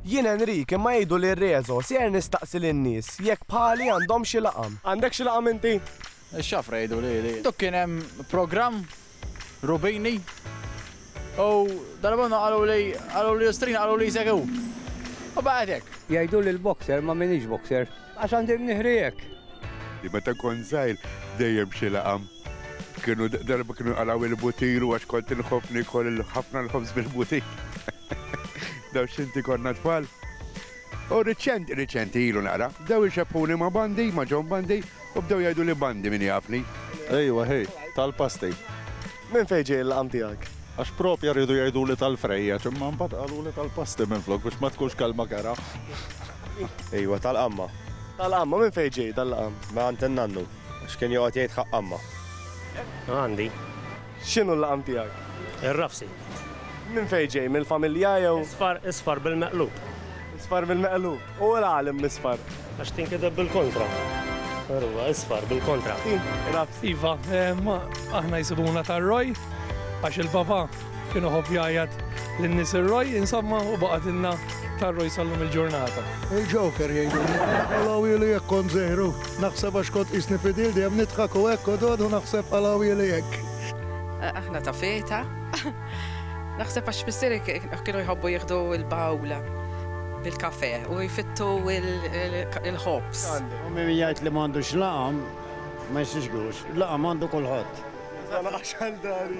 Jien Enric, imma jgħidu li Rezo, ser nistaqsi lin-nies jekk bħali għandhomx xi laqam. Għandek xi laqam inti? Ix-xafra jgħidu li għandu kien hemm programm Rubini u dalgħodu qaluli, qalu l-Istrina qalu li jsegħu. U baqgħet hekk. Jgħiduli l-boxer imma m'iniex boxer għax għandi mnieħri hekk. Meta kont żgħir dejjem xi laqam. Kienu darba kienu għalaw il-butilu għax kont inħobb nikol ħafna l-ħobż bil-butil. Daw xinti konna tfal. U riċent, riċenti ilu nara, daw ixeppuni ma' bandi, ma' ġon bandi, u bdew jgħidu li bandi min jafni. Ejwa, hej, tal-pasti. Minn fejn ġej il-laqam tiegħek? Għax propja rridu jgħidu li tal-frejja, ċimma mbagħad qalu li tal-pasti minn flok biex ma tkunx kelma kera. Ejwa, tal-qamma. Tal-qamma, minn fejn ġej dal-laqam? Minn għand in-nannu. X'kien joqgħod jgħid ħaqq Amma? Għandi. X'inhu l-laqam tiegħek? Ir-rafsi. Minn fejn ġej? Mill-familja jew? Isfar, isfar bil-meqlub. Isfar bil-meqlub. U l-għalem misfar? Għax tinkideb bil-kontra. Ruwa, isfar bil-kontra. Rafsi. Iva, aħna jsibuna tar-roj għax il-baba Kien iħobb jgħajjat lin-nies ir-Roj, insomma, u baqgħetilna tar-Roj sal-lum il-ġurnata. Il-Joker jgħiduli. Qalgħulieli jekk kont żejru. Naħseb għax kont qisni fidil dejjem nidħak u hekk u dod u naħseb qalgħulieli hekk. Aħna ta' feta. Naħseb għax missieri kienu jħobbu jieħdu l-bowl bil-kafè u jfittu l-ħobż. Ommi min jgħid li m'għandux laqam ma jsixgux. Laqam għandu kulħadd. Għax għal dari.